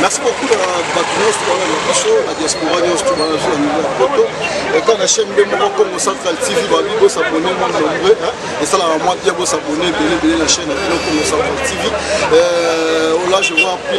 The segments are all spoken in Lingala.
merci beaucoup na bato nyonso tobana na biso na diaspora nyonso tobana biso na niveau ya poto etant na chaîne nde moko congo central tv babi bosabone mwa nombreux esalaka mwa bien bosabone ebele ebele na chaîne na bino congo central tv euh, là je vois plus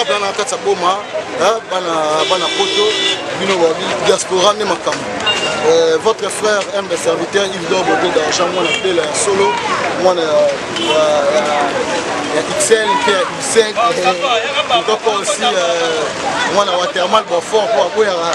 abla na kati ya boma bana poto bino babi diaspora nde makambo euh, votre frère mbe serviteur ildor bodo d'argent mwana mpela ya solo mwana ya ixel mpe ya useg euh, kaka aussi euh, mwana watermal bafort mpo aboyaka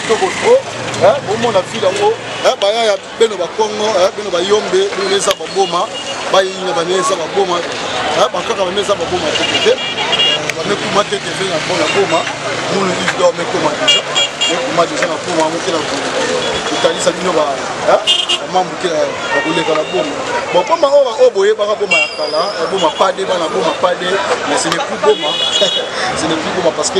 kitoko trop bomona file yango baya ya beno bakongo beno bayombe bino eza baboma bayina bane eza baboma bakaka bame eza baboma te te bamekuma te te na mpona boma munu ido mekoma deja mekuma deja na boma yango te na kotalisa bino bamambu te bakoleka na boma bokoma oyo oyo boyebaka boma ya kala boma pade bana boma pade mais ce n'est plus boma ce n'est plus boma parce que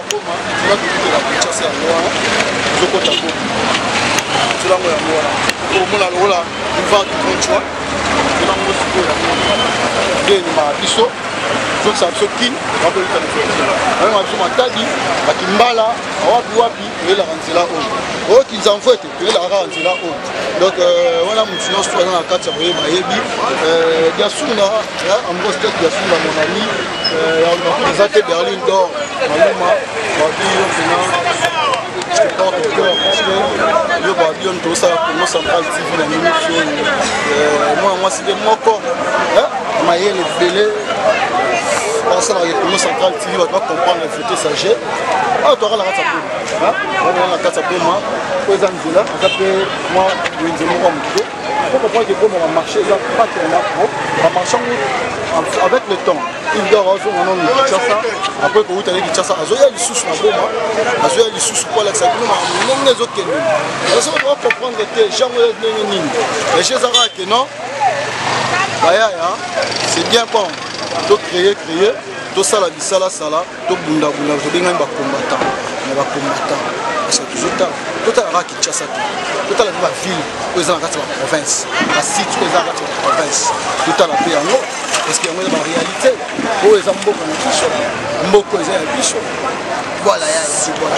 Goma, nzela tokutela Kinshasa yango wana tozokota Goma, nzela yango yango wana okomona lokola boulevard du Grand Choix, nzela yango sikoyo yango nde ememaka biso zokisa biso kin bakoyika nayango biso matadi bakimbala awapi wapi eyelaka nzela oyo oyo kinzamfo ete toyelaka kaka nzela oyo donc euh, wana motu nyonso aza na kati ya koyeba ayebi diasuna euh, ambos tet diasuna mon ami euh, eza te berlin dor maluma babi yo mpena je te porte au cœur parce que yo babi yo ntosala congo central tv na minute oyo mwana mwasi nde moko mayele ebele basalaka congo central tv bato bacomprendre fete sage awa toyaka na kati ya wana na kati ya boma po eza nzela eza mpe mwa wenze moko ya moke po comprendre ke boma bamarché eza pate ya lapro bamarché yango avec le temps igor azonga nano na kinshasa apres kowuta na kinshasa azoya lisusu na boma azoya lisusu po alakisa bino ma ndenge ezokende eza okoka comprendre te jango ya ndenge nini ege ezaka ke non bayaya c'est bien bon to créer créer tosala bisalasala tobundabunda tobengani bacombatant na bacombatant parce que tozotala totala kaka kinshasa te totala mpe baville oyo eza na kati ya baprovince basite oyo eza na kati ya baprovince totala mpe yango parce que yango eza baréalité oyo eza mboka na biso mboka eza ya biso voilà ya sibona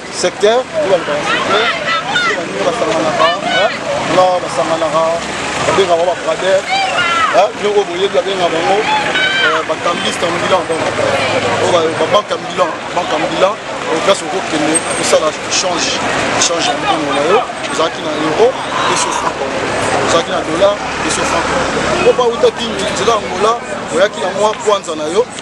secteur oyo balobaka secteur baninga basanganaka na basanganaka babengaka babrader bino oyo boyebi babenga bango euh, bakambiste en bilan donc euh, babanque en bilan banque en bilan place okokende kosala change change ya mbongo na yo ozalaki na euro eso franc ozalaki na dollar eso franc oyo bauta kingi nzela angola oyaki na mwa kwanza na yo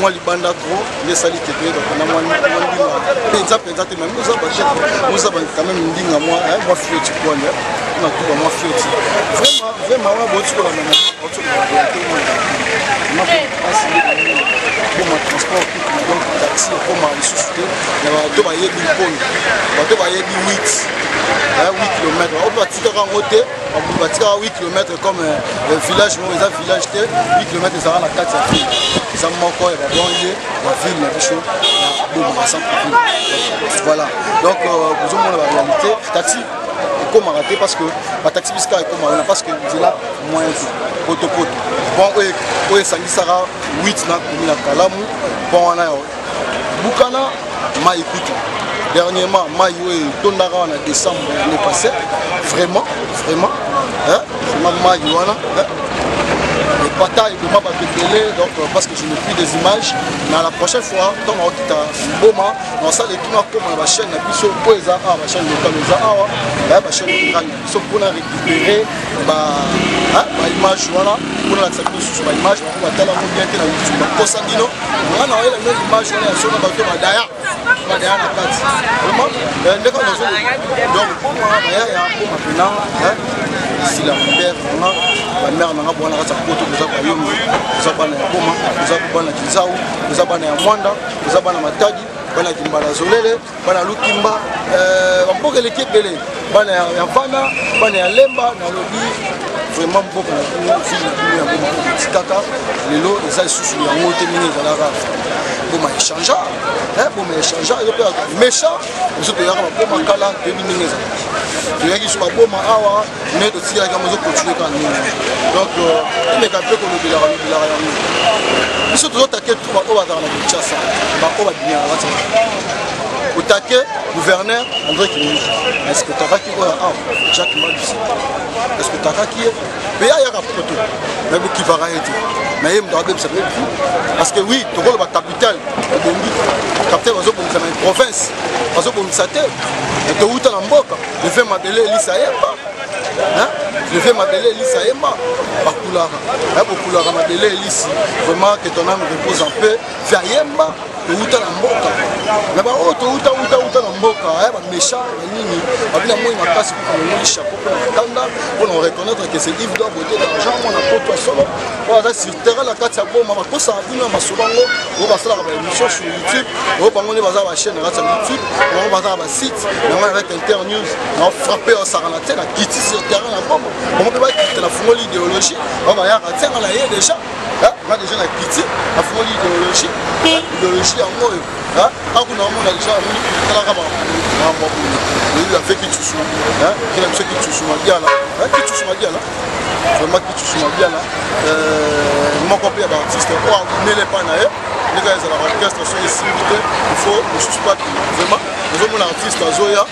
mwa libanda tro nde esali te toyeba mpona mwa ndinga mpenza mpenza te mami oza baje oza quand même ndinga mwa eh, mwa fioti kwani eh. na tuba mwa fioti vraiment vraiment wa botikola mama otikola te mwa asi ekoma transport public donc taxi ekoma lisusu te na bato bayebi mponi bato bayebi 8 8 kilomètre oyo batikaka yango te batika 8 km comme euh, village moko eza village te 8 km ezalaka na kati ya ville eza moko ya babange ya ville na biso ya bomaka centreville voilà donc euh, bozomona baréalité taxi ekomaka te parce que bataxi bisika ekoma wana parce que nzela moyen te potopoto pont oyo esangisaka 8 na komi na kalamu pont wana bukana mai kutu dernièrement mai oyo etondaka wana décembre année passé vraiment vraiment vraiment mai wana epata eboma bato ebele donc euh, parce que je n'ai plus des images na la prochaine fois ntango akokita mboma nasala etuna akoma na bachaine na biso oyo eza awa bachaine lokale eza awa bachaine lokale soki mpona récupere baimage wana mpona lakisa bino susu baimage bako batala yango bien te na youtube bakosa bino nga na oyela bino image wana ya sona bato badaya badaya na kati vraiment eh, ndeko nazo donc mpona bayaya mpoma pena sila père nanga bamare nanga bwana kati ya poto toza bayombo toza bana ya boma toza bana ya kizau toza bana ya mwanda toza bana matadi bana ya kimbala zolele bana lukimba euh, bamboka eleki ebele bana ya vana bana ya lemba nalobi vraiment mboka na bino vile na bino ya boma etikaka lelo eza lisusu yango te ndenge ezalaka boma echangea eh, boma echangea ezo mpe méchant biso toyaka baboma kala toyebi ndenge ezalaka toyaki biso baboma awa mais totikaki yango ezo continue kaka ndenge donc tomeka mpe kolobelaka lobelaka yango biso tozotake tu baoyo bazala na kinshasa baoyo babimaka kati otake gouverneur andré kingi eske otakaki oyo awa jacques malusi eske otakaki ye mpe ayaka poto me bokivaka ye te na ye moto abebisa mpe bi parce que oui tokoloba capitale ebongi capitale bazobongisa na province bazobongisa te towuta na mboka le vieux mabele elisa yemba le vieux mabele elisa yemba bakulaka ya kokulaka mabele elisi vraiment que ton âme repose en paix via yemba towuta na mboka na baoyo oh, towuta wuta wuta na mboka ya eh, bamécha na nini babi na moi makasi mpo namoni chapeau mpo na makanda mpo na reconnaître que c'est ive dobote d'argent mwana poto ya solo oyo aza sur terrain na kati ya boma bakosaka bino ya masolo yango oyo basalaka baémission sur youtube oyo bango nde baza bachaîne na kati ya youtube bango baza site na ngai avec internews na frappe osaka na tie na kiti sur terrain na bomo bango mpe bakite nafungoli idéologie bango bayaka tie nga na ye déjà nga déjà na kiti nafungoli idéologie idéologie yango oyo akuna omona déjà amoni talaka makambo ya boye oyebi afeki tusu kina biso kitusu madiala kitusu madiala vraiment kicusu mabiala euh, moko mpe ya baartiste oyo aumele epai na ye ndenge ezalaka orchestre soki esimbi te ifo mosusu mpe akima vraiment ozomona artiste azoya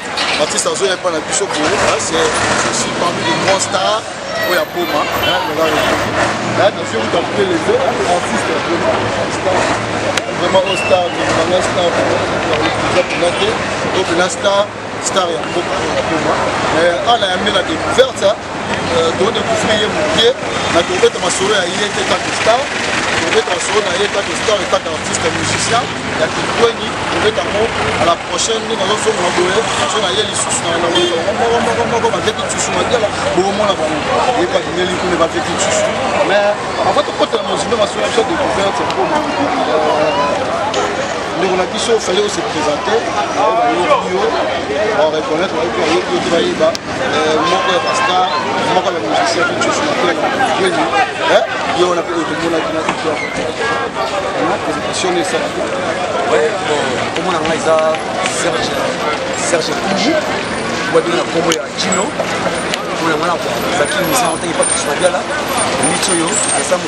artiste azoya epai na biso boye ceci parmi de grand star oyo aboma naziokuta mpe leve artiste vraiment ostar nanga star eza mpena te to mpena star star ya mboka oyo akoma eh, ana ya mbela découverte hein. eh, todécouvre ye moke na tobeta masolo ya ye te kaka star tobeta masolo na ye kaka star kaka artiste musicien ya kitweni tobeta yango à la prochaine ndenge azozonga boye so na ye lisusu na mokomoko baveki tsusu madiala bokomona bango ye balingeli kuna baveki tsusu mais avant tokotela mozimbe masolo ya biso découverte ndeko na biso fallait ose présente bayoki yo bareconnaitre bayoki bayoki yo te bayeba moko ya bastar moko ya bamusicien tucosinateeni ye wana mpe oyo tomonaki na tuto présentation na esalaki komona ngai eza serge serge kuji babino na kombo ya kino mpona ngai na zaki misana otaki pa tucinabiala miso oyo esango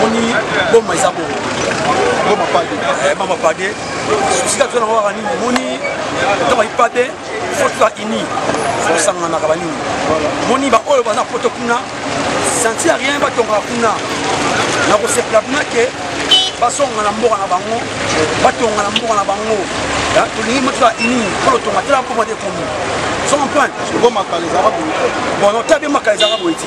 moni boma eza bo boma pade eh, boma pade susi kaka tozana kaka nini moni ntango ayi pade fo toza ini kosanganaka banini moni baoyo baza poto kuna senti ya rien batongaka kuna na kosepela kuna ke basonga na mboka na bango batonga na mboka na bango tolingi motola ini mpona tonga tela mpoma te komi so comprendre bon nota bien makala ezalaka boye ti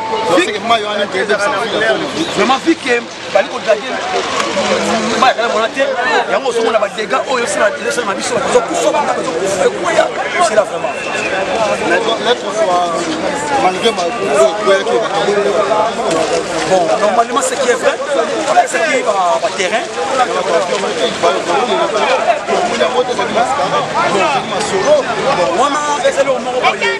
vraiment vu que bali kodrage mbaya kala mona te yango ozomona badega oyo esala na biso bazokufa banda bazokufa ekwaya sela vraiment bon normalement ce qui est vrai apesaki baterrain wana ezali omoko boye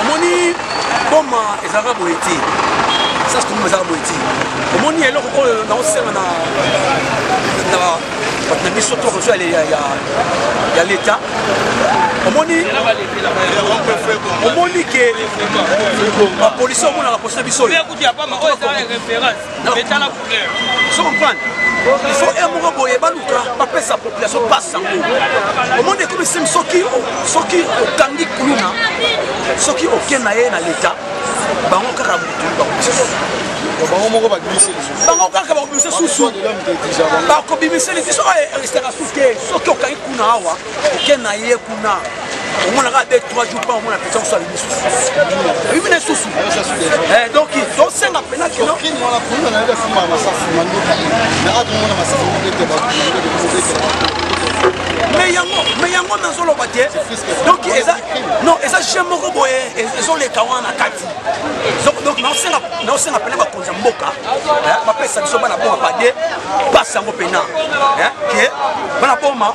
omoni boma ezalaka boye te sas toboma ezalaka boye te omoni eloko oyo naosenga na bato na biso to koso ya leta omoni omoni ke bapolisi omonaka posa biso oyo etala couleur so comprendre il faut e moko boye baluka bapesa population pasi yango omoni ekomi sim soki soki okangi kuluna soki oke na ye na leta bango kaka motuli bango mosusu bango moko babimisi lisusu bango kaka bakobimisa susu bakobimisa lisusu oyo eristaka susu te soki okangi kuna awa oke na ye kuna omonaka de 3 jours pa omona mpenza kosala lisusu oyebi na lisusu donc tosenga mpena kino me yango me yango nazoloba te donc eza non eza je moko boye ezoleka wana na kati donc naosenga mpena bakonzi ya mboka bapesa biso bana boma bade basi yango mpena ke bana boma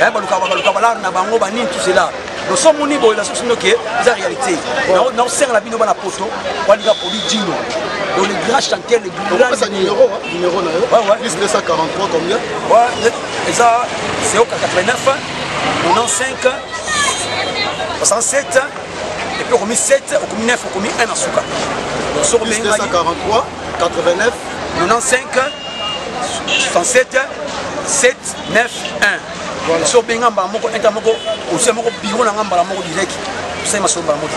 eh, baluka baluka balare na bango banini tout cela loso moni boye na sosi noke eza réalité naosenga na bino bana poto balinga poli dino donc le grand chanteur le grand numéro numéro na yo ouais ouais plus 243 combien ouais eza c'est au 89 95 67 epuis okomi 7 okomi 9 okomi 1 na suka soki obengi 89 95 67 7 9 1 so obenga mbala moko inta moko osia moko biro na nga mbala moko direct osali masolo mbala moko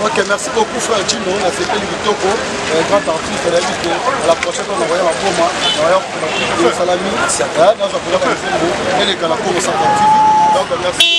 ok merci beaucoup frère chino nasepeli kitoko euh, grand artiste nayebi ke la prochaine fois nakoya bakoma nakoya kosalami nazwa koya baesembo elekala komo 50 tv donc merci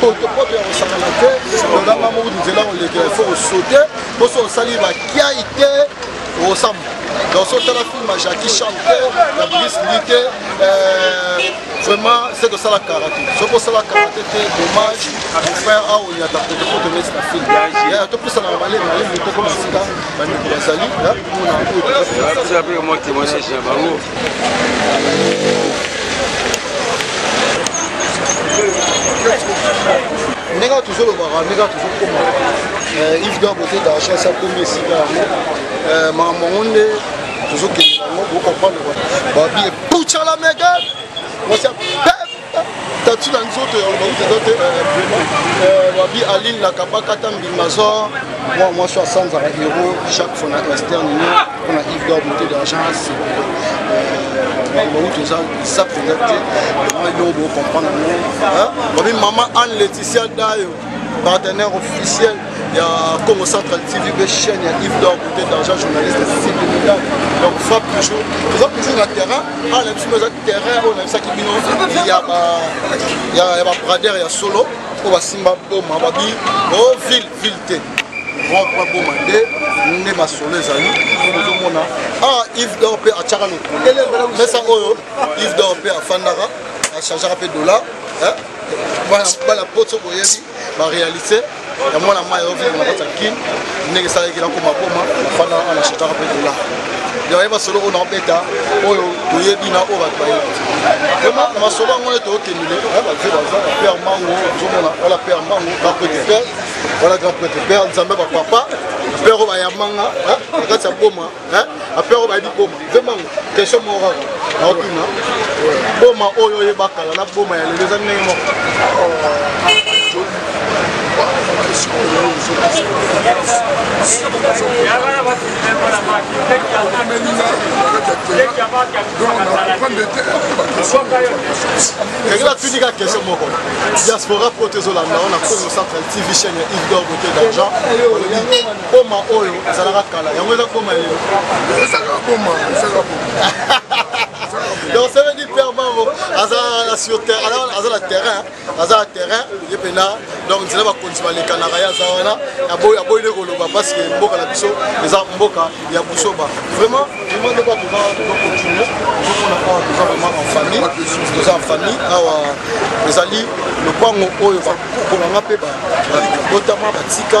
potopoto ya kosakana te olanga moko nzela kolekela ifo kosote poso osali bakiai te osamba donc so otala film ya jacki chan te ya bris li te vraiment se tosala karate soki osala karate te dommage frère awa oyata potopoto neti na film topusanaka malemi malemi tokoma sika bandeko bazali Naza pe mwa témoignage na bango. ndenge tozolobaka ndenge tozokoma euh, ive donc kote dachas akomi esika yango euh, makambo yango nde tozokende yango bokomprendre babi epucala mega tatu na nzoto ya lobakuti eza te wabi eh, eh, aline na kabakata mbima zor mwa mwasi asanzaka hero chaque fois na externe ni mpona ive dor mote d'agence bawuti oza esa mpenza te yo bocomprendre yango wabi mama anne leticia dayo partenaire officiel ya congo central tv mpe chaîne ya ive dor cote d'argent journaliste civil militaire donc frappe toujours toza toujours na terrain awa na biso mpe eza terrain oyo nayebisaki bino ya babrader ya solo oyo basimba boma babi o oh, ville ville te boma nde nde masolo ezali ozomona awa ah, ive dor mpe atyaka lokumu mesa oyo ive dor mpe afandaka achangeaka mpe dollar bana poto boyebi barealité ya mwana mai ovile na kati ya kin ndenge esalaki nakoma boma nafanda wana na shetaka mpe dola yaye masolo oyo naobeta oyo toyebi na oyo bato bayebi vraimen na masolo yango nde tookendele baze baza père mango ozomona wala père mango grand prêtre père wala grand prêtre père nzambe bapapa père oyo bayamanga na kati ya boma hein après on va dire boma vraiment question morale na otuna boma oyo oh, oyeba kala na boma ya lelo eza ndenge moko ekela tunika question moko diaspora po tozolanda ona congo central tv chaine ya ive d'or bote d'argent boma oyo ezalaka kala yango eza boma lelo ezalaka boma ezalaka boma donc ça veut dire père bango aza na sur terrain aza na terrain aza na terrain ye mpena donc nzela bakonzi balekanaka ye aza wana aboyi nde koloba parce que mboka na biso eza mboka ya busoba vraiment vraiment nde bato bacontinue tozomona awa toza vraiment en famille toza en famille awa ezali lopango oyo bakoko na nga mpe babotama batika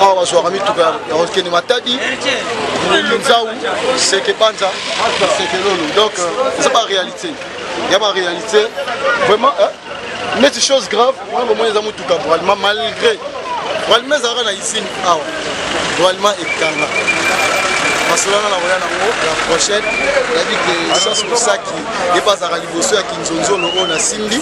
awa bazwaka mituka ya kokende matadi kinzau seke banza seke lolo donc euh, eza baréalité ya baréalité vraiment neti chose grave wana bomoni eza motuka bralima malgré bralima ezalaka na isine awa bralima ekanga masolo wana nakoya nango la prochaine nayebi ke chance mosaki ye mpe azalaka liboso ya nzonzono oyo nasimbi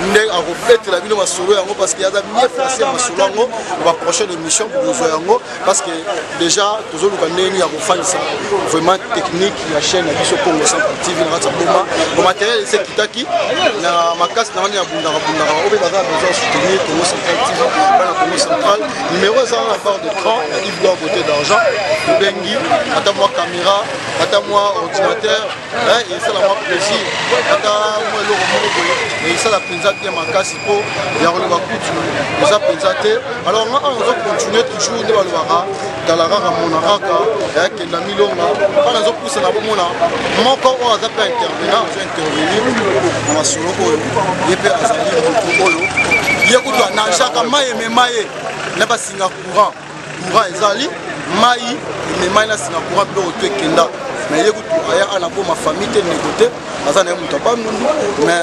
nde akobetela bino masolo yango parce que aza bien place ya masolo yango ba prochaine émission bokozwa yango parce que déjà tozoluka ndenge nini ya kofandisa vraiment technique ya chaîne ya biso congo centre tv na kati ya boma bamateriel esi ekitaki na makasi na wana ya bundaka bundaka obe baza besoin soutenir congo central tv bana congo central numéro eza na part de cran ya ive dor beauté d'argent obengi ata mwa caméra ata mwa ordinateur esalama plaisir ata mwa eloko moko boye me esala mpenza bien makasi mpo ya koloba kutu eza mpenza te alors nga awa nazo continue toujours nde balobaka tala kaka mona kaka yakenda milonga mpo nazo pusana bomona moko oyo aza mpe intervena azo intervenir na masolo oyo ye mpe azali motu oyo ye kutu anagaka maye me maye na basinga courant courant ezali mai ememai na nsima courant biloko to ekenda me ye kutu aya ana boma famille te ndeko te aza na ye moto ya bandundu me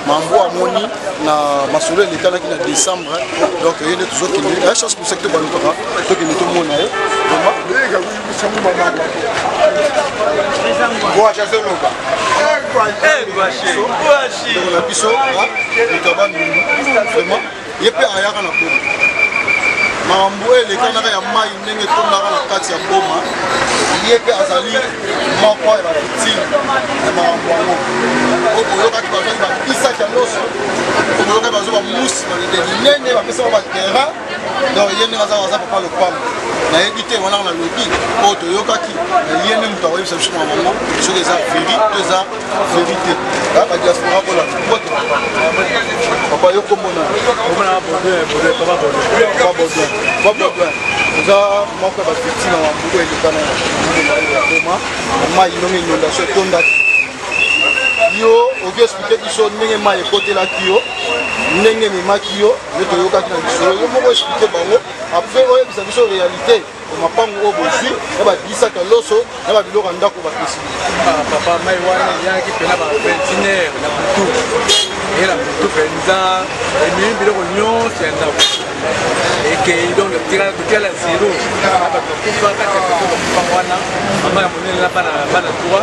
mambo amoni na masolo elekanaki na décembre donc ye nde tozokende ya chance mosaki tobalukaka tokende tomona ye na biso moto ya bandundu vraiment ye mpe ayaka na boma makambo oyo elekanaka ya mai ndenge etondaka na kati ya boma ye mpe azali moko ya bavictime ya makambo yango oyo boyokaki bazwaki bapisaki ya nyonso oyo boyokaki bazwa bamusi balide minene bapesaka baterrain donc ye ndenge aza aza papa lopango nayebi te wana na lobi oyo toyokaki ye nde moto akoyebisa biso makambo yango soki eza veri to eza verite ah, ba diaspora bola bote papa yo komona komona bodin bodin papa bodin papa bodin papa bodin oza moko ya bavictime ya mbuku eleka na ya boma mai ndonge inondation etondaki yo oki explike biso ndenge mai ekotelaki yo ndenge ememaki yo nde toyokaki na lisolo yo moko explike bango après oyebisa biso réalité mapangu oyo bozwi na babisaka loso na babiloko ya ndako bapesi ah, papa mai wana eyaki mpena ba 21 heure na butu eye na butu mpenza ememi biloko nyonso ya ndako ekei donc totala zero na bato bakufa kati ya bakufa wana mama ya monene na bana 3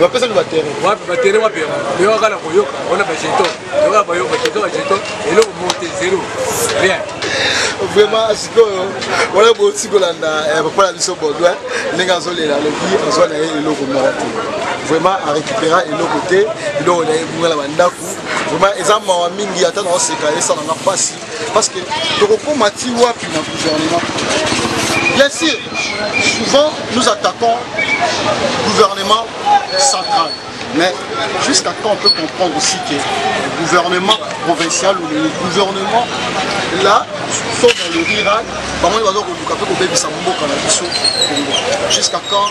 bapesa mi batere wapi batere wapi yo kaka na koyoka wana bajeto yoka bayoka jeto bajeto eloko mote zero rien vraiment sikoyo wana bosi kolanda eh, papa na biso baudouin ndenge azolela alobi azwa na ye eloko moko te vraiment arécupéra eloko te eloko na ye ebunga na bandako vraiment eza mawa mingi ata naoseka esala nga mpasi parce que tokokoma ti wapi na gouvernement bien sûr souvent nous attaquons gouvernement central mais jusqu'à quand on peut comprendre aussi que le gouvernement provincial ou le gouvernement là sauf dans le rural bango nde baza koluka mpe kobebisa mboka na biso kongo jusqu'à quand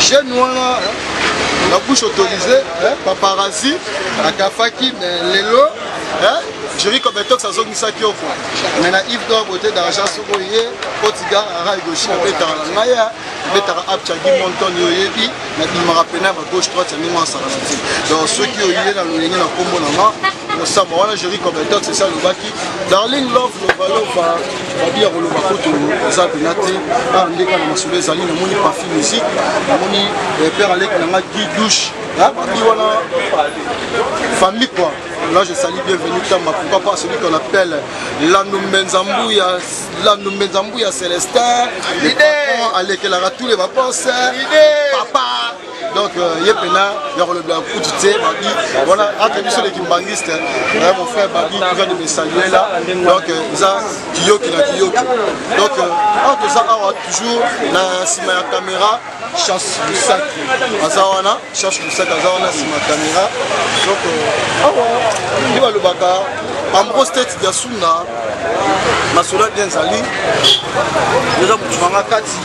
jeune wana la bouche autorisée hein, paparazzi akafaki mais lelo hein, juri kobetox azongisaki yo kua mais na ive dor bote d'argent soko ye kotiga ara egoshi abetaka na ngai abetaka apchagi monton yo oyebi nabimaka pena ba gauche droite ya ndenge wana saranati donc soki oye na lolenge na nkombo na nga kosamba wana juri kobetox esi alobaki darling love lovalova babi ya koloba kutu eza mpena te awa ah, ndeka na masolo ezali namoni pafi musique namoni eh, père aleki na nga gi douche ah, babi wana famille quoi Là, je salue bienvenue Tamba. Pourquoi pas celui qu'on appelle Lanoumbenzambouya, Lanoumbenzambouya Célestin. L'idée. Alekelara tous les vacances. L'idée. Papa. donc euh, ye mpena ya kolobela kutu te babi wana entre biso les kimbanguiste euh, mon frère babi qui vient de me saluer là donc euh, eza kiyoki na kiyoki donc awa toza awa toujours na nsima ya caméra chance lusaki aza wana chance lusaki aza wana nsima ya caméra donc awa nde balobaka ambro state diasuna masolo bien ezali eza motu nanga kati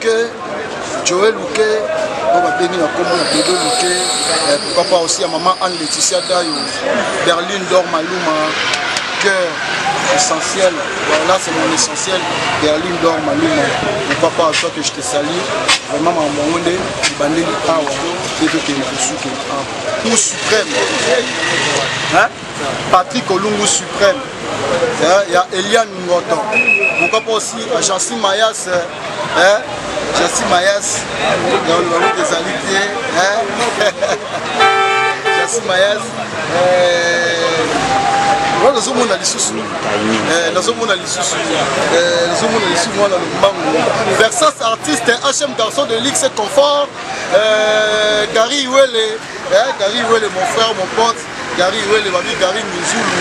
que Joël Luke oyo babengi na nkombo ya Dodo Luke eh, pourquoi pas aussi ya maman Anne Laetitia Dayo Berlin Dor Maluma cœur essentiel voilà c'est mon essentiel Berlin Dor Maluma pourquoi pas toi que je te salue vraiment maman yango nde ebandeli awa mpe tokende kosuke awa pour suprême hein Patrick Olungu Suprême eh, ya Eliane Ngoto pourquoi pas aussi euh, Jancy Mayas eh, eh Jancy Mayas ya Olungu ezali te Jancy Mayas wana nazomona lisusu nazomona lisusu nazomona lisusu mwana lombangu versas artiste hm garçon de lix confort gary iwele gary iwele mon frère mon pote Gary Wele babi Gary Minzulu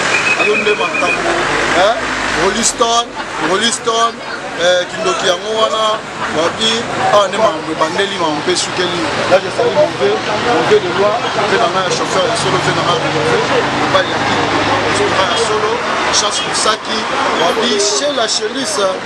yo nde makambo hein Rolling Stone Rolling Stone eh, kindoki yango wana babi awa ah, nde makambo ebandeli makambo mpe esukeli là jesali move move de loi mpe na ngai ya chauffeur ya solo mpe na ngai move mobali ya kii ya solo chance mosaki babi chez la chelise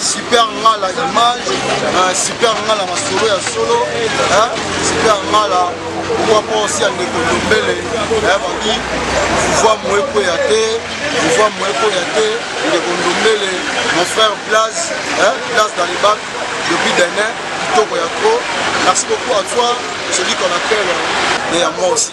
super ngala image euh, super ngala masolo ya solo super ngala pourquoi pas aussi ya ndeko ndombele bandi pouvoir moye koya te pouvoir moye koya te ndeko ndombele mon frère place place dans les bacs depuis demain kitoko ya trop merci beaucoup à toi celui qu'on appelle et à moi aussi